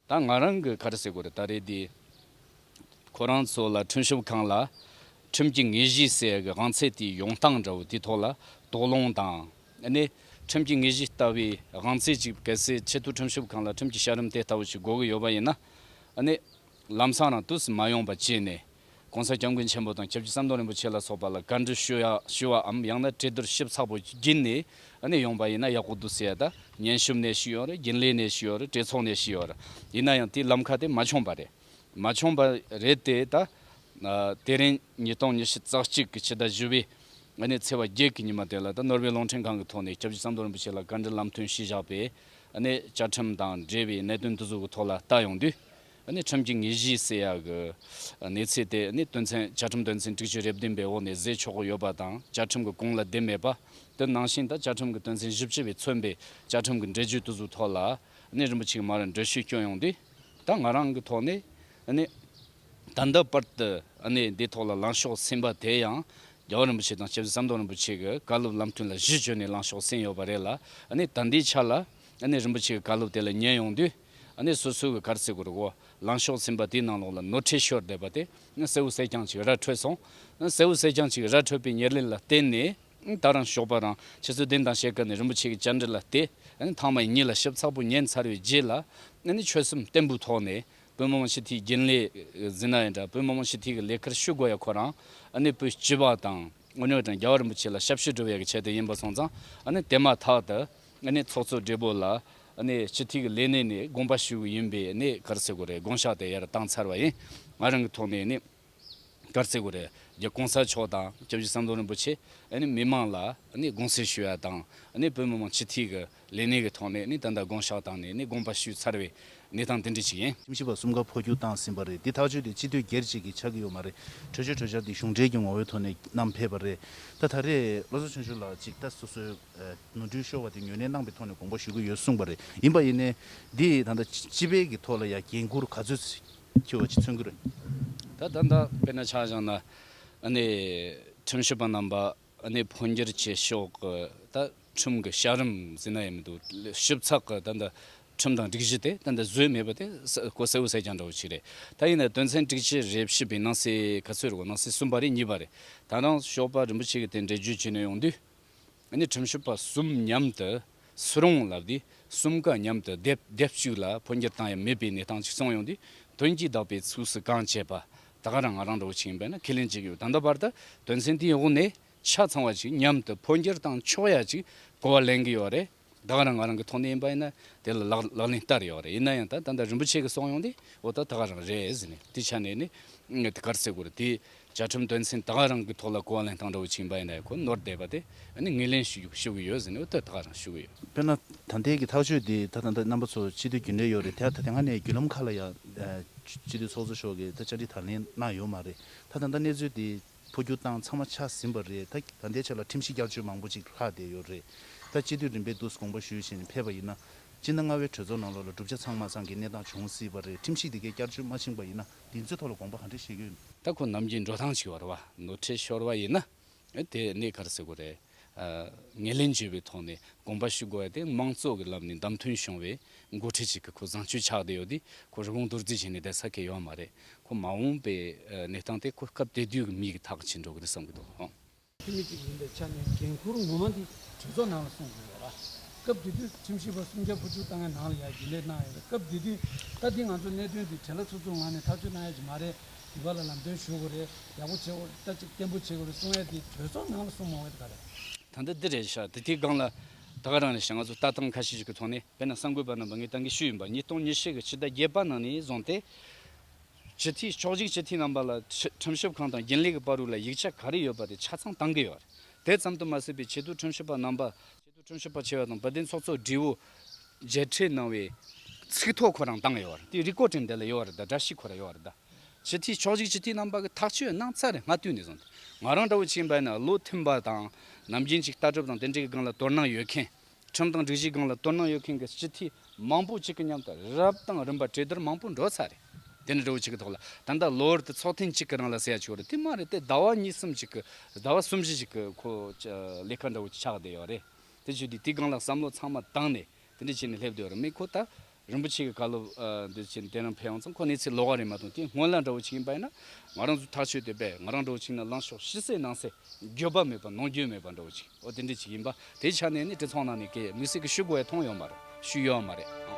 ད་ང་རང་གི་ཁར་སའི་གོ་རེ་ད་རེ་དེ། ཁོ་རང་ཚོ་ལ་ཁྲིམས་ཞིབ་ཁང་ལ་ཁྲིམས་ཀྱི་ངེས་གཞི་གསལ་གི་དབང་ཚད་དེའི་ཡོང་སྟངས་འདྲ་བོ་དེ་ཐོག་ལ་དོགས་སློང་དང། ནས་ཁྲིམས་ཀྱི་ངེས་གཞི་ལྟ་བུའི་དབང་ཚད་ཅིག་གལ་སྲིད་ཆེད་དུ་ཁྲིམས་ཞིབ་ཁང་ལ་ཁྲིམས་ཀྱི་ཤ་རིམ་དེ་ལྟ་བུ་ཞིག་དགོས་གི་ཡོད་པ་ཡིན་ན། ལམ་སང་རང་དུས་སུ་མ་ཡོང་པ་བྱས་ནས ྋགོང་ས ྋསྐྱབས་མགོན་ཆེན་པོ་དང ྋསྐྱབས་རྗེ་ཟམ་གདོང་རིན་པོ་ཆེ་ལ་སོགས་པ་ལ་བཀའ་འདྲི་ཞུ་བའམ་ཡང་ན་གྲོས་བསྡུར་ཞིབ་ཚགས་པོ་བགྱིས་ནས་ནས་ཡོང་པ་ཡིན་ན་ཡག་པོ་འདུག་ཟེར་ཡ་ད་ཉན་ཞུམ་ནས་ཞུས་ཡོང་རེད་རྒྱུན་ལས་ནས་ཞུས་ཡོང་རེད་གྲོས་ཚོགས་ནས་ཞུས་ཡོང་རེད་ཡིན་ན་ཡང་དེའི་ལམ་ཁ་དེ་མ་འཁྱོངས་པ་རེད་མ་འཁྱོངས་པ་རེད་དེ་ད་དེ་རིང་ཉིས་སྟོང་ཉི་ཤུ་རྩ་གཅིག་གི་ཕྱི་ཟླ་བཞི་བའི་ནས་ཚེས་བར་བརྒྱད་ཀྱི་ཉི་མ་དེ་ལ་ད་ནོར་བེ་རླུང་འཕྲིན་ཁང་གི་ཐོག་ནས ྋསྐྱབས་རྗེ་ཟམ་གདོང་རིན་པོ་ཆེ་ལ་བཀའ་འདྲི་ལམ་སྟོན་ཞུས་བཞག་པས་ནས་བཅའ་ཁྲིམས་དང་འབྲེལ་བའི་གནད་དོན་དུ་ཟུར་གྱི་ཐོག་ལ་བལྟ་ཡོང་དུས། ཁྲིམས་ཀྱི་ངེས་གཞི་སེལ་ཡ་གི་གནས་ཚུལ་དེ་དོན་ཚན་བཅའ་ཁྲིམས་དོན་ཚན་དྲུག་ཅུ་རེ་བདུན་པའི་འོག་ནས་བཟོས་ཆོག་གི་ཡོད་པ་དང་བཅའ་ཁྲིམས་ཀྱི་གོང་ལ་བསྡད་མེད་པ་དེ་ནང་བཞིན་དང་བཅའ་ཁྲིམས་ཀྱི་དོན་ཚན་བཞི་བཅུ་བས་མཚོན་པའི་བཅའ་ཁྲིམས་ཀྱི་འགྲེལ་བརྗོད་དུ་ཟུར་ཐོག་ལ་རིན་པོ་ཆེའི་མར་འགྲེལ་བཤད་བསྐྱོན་ཡོང་དུས། ད་ང་རང་གི་ཐོག་ནས། ད་ལྟ་བར་དུ་འདི་ཐོག་ལ་ལངས་ཕྱོགས་ཟིན་པ་དེ་ཡང་རྒྱལ་བ་རིན་པོ་ཆེ་དང་སྐྱབས་རྗེ་ཟམ་གདོང་རིན་པོ་ཆེ་གི་བཀའ་སློབ་ལམ་སྟོན་ལ་གཞི་བཅོལ་ནས་བླངས་ཤོག་གསན་ཡོད་པ་རེད་ལ། ད་ལྟའི་ཆར་ལ། རིན་པོ་ཆེ་གི་བཀའ་སློབ་དེ་ལ་ཉན་ཡོང་དུས། སོ་སོའི་གི་གར་རྩེད་དགོས་རོགས། ལངས་ཤོག་ཚིམ་པ་དེའི་ནང་ལོགས་ལ་ནོར་ཁྲལ་ཤོར་བསྡད་པ་དེ། གསལ་བོ་གསལ་རྐྱང་ཅིག་ར་འཕྲོད་སོང། གསལ་བོ་གསལ་རྐྱང་ཅིག་ར་འཕྲོད་པའི་ཉེར་ལེན་ལ་བརྟེན་ནས། ད་རང་ཞོགས་པ་རང་ཁྱེད་ཚོས་བདེན་དང་བཤད་སྐབས་ནས་རིན་པོ་ཆེ་གི་བཅར་འདྲི་ལ་བལྟས། ཐང་མ་ཡི་གཉིད་ལ་ཞིབ་ཚགས་པོ་ཉན་ཚར་བའི་རྗེས་ལ། ཆོལ་གསུམ་སྟེགས་འབུག་ཐོག་ནས། བོད་མི་མང་སྤྱི་འཐུས་རྒྱུན་ལས་ཟིན་ན་ཡང་འདྲ་བོད་མི་མང་སྤྱི་འཐུས་ཀྱི་ལས་ཁར་ཞུགས་དགོས་ཡ་ཁོ་རང་ཨ་ནི་བོད་སྤྱི་བ་དང་དངོས་གནས་དྲང་རྒྱལ་བ་རིན་པོ་ཆེ་ལ་ཞབས་ཞུ་སྒྲུབ་ཡ་གི་ཆེད་དུ་ཡིན་པ་སོང་ཙང་ཨ་ནི་དེ་མ་ཐག་ཏུ་ཨ་ནི་ཚོགས་གཙོ་སྦྲེལ་པོ་ལ་ཨ་ནི་སྤྱི་འཐུས་ཀྱི་ལས་གནས་ནས་དགོངས་པ་ཞུ་གི་ཡིན་པས་ཨ་ནི་གར་སེ་གོ་རེ་དགོངས་ཞག་དེ་ཡར་བཏང་ཚར་བ་ཡིན་ང་རང་གི་ཐོག་ནས་ཨ་ནི། དཀར་རྩེ་གུ་རེ་རྒྱ་གོང་ས་མཆོག་དང་སྐྱབས་རྗེ་བསམ་གཏོང་རིན་པོ་ཆེ་མི་མང་ལ་དགོངས་སེལ་ཞུ་ཡ་དང་བོད་མི་མང་སྤྱི་འཐུས་ཀྱི་ལས་གནས་ཀྱི་ཐོག་ནས་ད་ལྟ་དགོངས་ཞག་བཏང་ནས་དགོངས་པ་ཞུས་ཚར་བའི་གནས་སྟངས་དེ་འདྲ་ཞིག་ཡིན། ཁྱིམ་གཞི་བ་གསུམ་ཀ་འཕོ་འགྱུར་བཏང་ཟིན་པ་རེད་འདི་ཐག་གཅོད་དེ་སྤྱི་འཐུས་སྒེར་གཅིག་གིས་ཆགས་ཀྱི་ཡོད་མ་རེད་གྲོས་ཆོད་གྲོས་འཆར་འདི་གཞུང་འབྲེལ་གྱི་ངོ་བོའི་ཐོག་ནས་བསྣམས་ཕེབས་པ་རེད་ད་ད་རེས་བློ་བཟོ་ཆོན་ཞུ་ལགས་གཅིག་ད་སོ་སོའི་ནོར་འཁྲུལ་ཤོར་བ་དེ་ཉོས་ནས་གནང་པའི་ཐོག་ནས་དགོངས་པ་ཞུ་གི་ཡོད་གསུངས་པ་རེད་ཡིན་པ་ཡིན་ནའི་འདི་ད་ལྟ་སྤྱི་པའི་གི་ཐོག་ལ་ཡང་འགན་འཁུར་ག་ཚོད་ཁྱོད་འོ་ཅི་ཚོད་འགུལ། ད་ད་ད་དཔེར་ན་ཆ་བཞག་ན་ནི་ཁྲིམས་ཞིབ་པ་རྣམས་པ་ནི་འཕོ་འགྱུར་གྱི་ཕྱོགས་ཀྱི་ད་ཁྲིམས་ཀྱི་བྱ་རིམ་ཟིན་ན་ཡི་མི་འདུག་ཞིབ་ཚགས་ཀྱི་ད་ད་ཁྲིམས་དང་སྒྲིག་གཞི་དེ་ད་ད་བཟོས་མེད་པ་དེ་ཀོ་སེའུ་སེ་རྐྱང་འདྲ་བོ་ཞིག་རེད་ད་ཡིན་ན་དོན་ཚན་སྒྲིག་གཞི་རེ་བཞི་པའི་ནང་གསེས་ག་ཚོད་རེད་གོ་ནང་གསེས་གསུམ་པ་རེད་གཉིས་པ་རེད་ད་རང་ཞོགས་པ་རིན་པོ་ཆེ་གི་དེ་འགྲེལ་བརྗོད་བྱེད་ནས་ཡོང་དུས། ང་ནི་ཁྲིམས་ཞིབ་པ་གསུམ་མཉམ་དུ་སུ་རང་ལབ་དུས་གསུམ་ཀ་མཉམ་དུ་སྡེབ་སྡེབ་ཅིག་ལ་འཕོ་འགྱུར་བཏང་ཡང་མེད་པའི་གནས་སྟངས་ཅིག་བྱུང་ཡོང་དུས་དོན་གྱིས་བདག་པའི་ཚུགས་སུ་གང་བྱས་པ་དག་རང་ང་རང་འགྲོ་བཞིན་ཡིན་པ་ནི་ཁས་ལེན་བྱེད་ཀྱི་ཡོད་ད་ལྟ་བར་དུ་དོན་ཚན་དེའི་འོག་ནས་ཆ་ཚང་བ་ཅིག་མཉམ་དུ་འཕོ་འགྱུར་བཏང་ཆོག་ཡ་ཅིག་གོ་བ་ལེན་གྱི་ཡོད་རེད་དགག་རང་ང་རང་གི་ཐོག་ནས་ཡིན་པ་ཡིན་ན་དེ་ལ་ལག་ལེན་བསྟར་ཡོད་རེད་ཡིན་ན་ཡང་ད་ལྟ་རིན་པོ་ཆེ་གི་སོང་ཡོང་དུས་འོ་ད་དགག་རང་རེད་ཟེར་ནས་དེ་ཆ་ནས་ནི་དགག་རྩེ་དགོས་རེད་དེ་བཅའ་ཁྲིམས་དོན་ཚན་དག་རང་གི་ཐོག་ལ་གོ་གླེང་དང་འབྲེལ་བའི་ཆིངས་པ་ཡིན་ན་ཡང་ཁོ་ནོར་བསྡད་པ་དེ་ནི་ངོས་ལེན་ཞུ་ཞུ་གི་ཡོད་ཟེར་ནས་འུ་ཐུག་དག་རང་ཞུ་གི་ཡོད། དཔེར་ན་ད་ལྟའི་གི་ཐག་གཅོད་འདི་ད་ད་ལྟ་རྣམ་པ་ཚོ་སྤྱི་འཐུས་རྒྱུན་ལས་ཡོད་རེད་དེ་ད་ལྟ་སྔ་ནས་བརྒྱུད་ལམ་ཁག་ལ་ཡང་སྤྱི་འཐུས་ཚོགས་གཙོ་མཆོག་གིས་ད་བཅར་འདྲི་དང་ལེན་གནང་ཡོད་མ་རེད་ད་ད་ལྟ་གནས་ཚུལ་འདི་འཕོ་འགྱུར་བཏང་ཚང་མ་ཆགས་ཟིན་པ་རེད་ད་ད་ལྟའི་ཆ་ལ་ཁྲིམས་གཞི་བསྐྱར་བཅོས་མང་པོ་ཅིག་ལྷག་བསྡད་ཡོད་རེད་ད་སྤྱི་འཐུས་རིམ་པས་བསྡུ་དགོངས་པ་ཞུས་ཞེས་ཕེབས་པ་ཡིན་ན་སྤྱིར་ན་རྔ་བའི་གྲོས་ཚོགས་ནང་ལོགས་ལ་གྲུབ་ཆ་ཚང་མ་ཚང་གི་གནས་སྟངས་བྱུང་སྲིད་པ་རེད་ཁྲིམས་གཞི་འདི་གས་བསྐྱར་བཅོས་མ་ཕྱིན་པ་ཡིན་ན། འདི་ཚོའི་ཐོག་ལ་དགོངས་པ་ག་འདྲས་བཞེས་གི། ད་ཁོ་ནམ་རྒྱུན་འགྲོ་ཐང་ཞིག་བར་བ་ནོར་ཁྲལ་ཤོར་བ་ཡིན་ན་དེ་གནད་གར་སེལ་དགོས་རེད། ངས་ལན་བརྗོད་པའི་ཐོག་ནས་དགོངས་པ་ཞུ་དགོས་བ་དེ་དམངས་གཙོ་གི་ལམ་ནས་འདམ་ཐོན་བྱུང་བའི་མགོ་ཁྲིད་ཅིག་གི་ཁོ་བཟང་སྤྱོད་ཆགས་བསྡད་ཡོད་དུས་ཁོ་རི་བོང་རྡོར་རྫིས་བྱས་ནས་བསྡད་ས་གལ་ཡོད་མ་རེད་ཁོ་མ་འོངས་པའི་གནས་སྟངས་དེ་ཁོ་སྐབས་དེ་དུས་ཀྱི་མིའི་ཐག་བྱེད་འགྲོ་གི་རེད་བསམ་གི་འདུག། འཐུས་མི་ཞིག་ཡིན་པའི་ཆ་ནས་འགན་འཁུར་ངོ་མ་འདི་གྲོས་ཚོགས་ནང་ལ་སོང་དགོས་པ་རེད། སྐབས་དེ་དུས་ཁྲིམས་ཞིབ་པ་སུམ་བརྒྱ་དགུ་བཅུ་ལྟ་ངའི་ནང་ལ་ཡར་རྒྱུན་ལས་གནང་ཡོད་པས་སྐབས་དེ་དུས་ད་འདི་ང་ཚོ་གནད་དོན་འདི་བྲེལ་ལ་ཚུར་ཚུར་ངང་ནས་ཐག་གཅོད་གནང་ཡ་གི་མ་རེད་འདི་བ་ལ་ལམ་སྟོན་ཞུ་དགོས་རེད་ཡག་པོ་བྱེད་དགོས་རེད་ལྟ་ཅིག་བརྟན་པོ་བྱེད་དགོས་རེད་གསུང་ཡ་འདི་གྲོས་ཚོགས་ནང་ལ་སོང་མ་འོད་ག་རེད། ད་ལྟ་འདི་རེད་ཤག་འདི་དེའི་སྒང་ལ་ད་ག་རང་རེད་ཤག་ང་ཚོ་ལྟ་སྟངས་ཁ་ཤས་ཤིག་གི་ཐོག་ནས་བལ་ན་གསར་འགོད་པ་རྣམས་པ་ངའི་ལྟ་འགའི་ཤུལ་ཡིན་པ་ཉིས་སྟོང་ཉེར་བཞི་གི་ཕྱི་ཟླ་བརྒྱད་པ་ནང་ནས་བཟུང་སྟེ། སྤྱི་འཐུས་ཕྱོགས་གཅིག་སྤྱི་འཐུས་རྣམ་པ་ལ་ཁྲིམས་ཞིབ་ཁང་དང་རྒྱུན་ལས་ཀྱི་པར་རིས་ལ་ཡིག་ཆ་ག་རེ་ཡོད་པ་དེ་ཆ་ཚང་གཏང་གི་ཡོད་རེད་དེ་ཙམ་དུ་མ་ཟད་པའི་ཆེད་དུ་ཁྲིམས་ཞིབ་པ་རྣམ་པ། ཆེད་དུ་ཁྲིམས་ཞིབ་པ་ཆེ་བ་དང་བོད་བདེན་ཚོགས་གཙོ་སྒྲིལ་བོ། མཇལ་འཕྲད་གནང་བའི་ཚིག་ཐོ་ཁོ་རང་བཏང་ཡོད་རེད་དེའི་རིགས་བཀོད་སྒྲིག་འདི་ལ་ཡོད་རེད་དཱ་བཀྲ་ཤིས་ཁོ་ར་ཡོད་རེད་དཱ། སྤྱི་འཐུས་ཕྱོགས་གཅིག་སྤྱི་འཐུས་རྣམ་པ་གི་ཐག་གཅོད་གནང་ཚར་རེད་སྔ་དུས་ནས་བཟུང་སྟེ་ང་རང་འདྲ་བོ་ཕྱིན་པ་ནས་བློ་མཐུན་པ་དང་ནམ་རྒྱུན་གཅིག་ལྟ་གྲུབ་དང་དེ་འདྲའི་སྒང་ལ་དོར་སྣང་ཡོད་མཁན། ཁྲིམས་དང་སྒྲིག་གཞིའི་སྒང་ལ་དོ་སྣང་ཡོད་མཁན་གྱི་སྤྱི་འཐུས་མང་པོ་གཅིག་གི་མཉམ་དུ་རབ་དང་རིམ་པ་གྲོས་བསྡུར་མང་པོ་འགྲོ་ཚར་རེད། དེ་ནི་འབྲས་བུ་གཅིག་གི་ཐོག་ལ་ད་ལྟ་ལོ་ཨེར་ཏེ་ཚོགས་ཐེངས་གཅིག་གི་རང་ལ་ཟེར་ཡ་ཆོག་རེད་དེ་མ་རེད་དེ་ཟླ་བ་གཉིས་གསུམ་གཅིག་གི་ཟླ་བ་གསུམ་བཞི་གཅིག་གི་ཁོ་ལས་ཁ་འདྲ་བོ་ཆགས་བསྡད་ཡོད་རེད་དེ་བྱུས་དུས་དེའི་སྒང་ལ་བསམ་བློ་ཚང་མ་བཏང་ནས་དེ་འདྲས་བྱས་ནས་སླེབས་བསྡད་ཡོད་རེད་མེད་ཁོ་ད་རིན་པོ་ཆེ་གི་བཀའ་སློབ་འདི་བྱས་ནས་དེ་རིང་ཕེབས་ཡོང་ཙང་ཁོ་ནི་ཚེ་ལོ་ག་རེ་མ་ཐོན་དེ་སྔོན་ལ་འདྲ་བོ་བྱེད་ཀྱིན་པ་ཡིན་ན་ང་རང་ཚོ་ཐག་ཆོད་དེ་པས་ང་རང་འདྲ་བོ་བྱིངས་ན་ལང་ཤོག་ཤི་སྲེག་གནང་སྲེག་འགྱོད་པ་མེད་པ་ནོངས་འགྱོད་མེད་པ་འདྲ་བོ་བྱེད་ཨོ་དེ་འདྲས་བྱེད་ཀྱིན་པ་དེའི་ཆ་ནས་ནི་དེ་ཚོང་ནང་ནས་ཀྱེ་དམིགས་བསལ་གྱི་ཞུ་དགོས་ཡ་མཐོང་ཡོད་མ་རེད་ཞུས་ཡོད་མ་རེད་ཨང།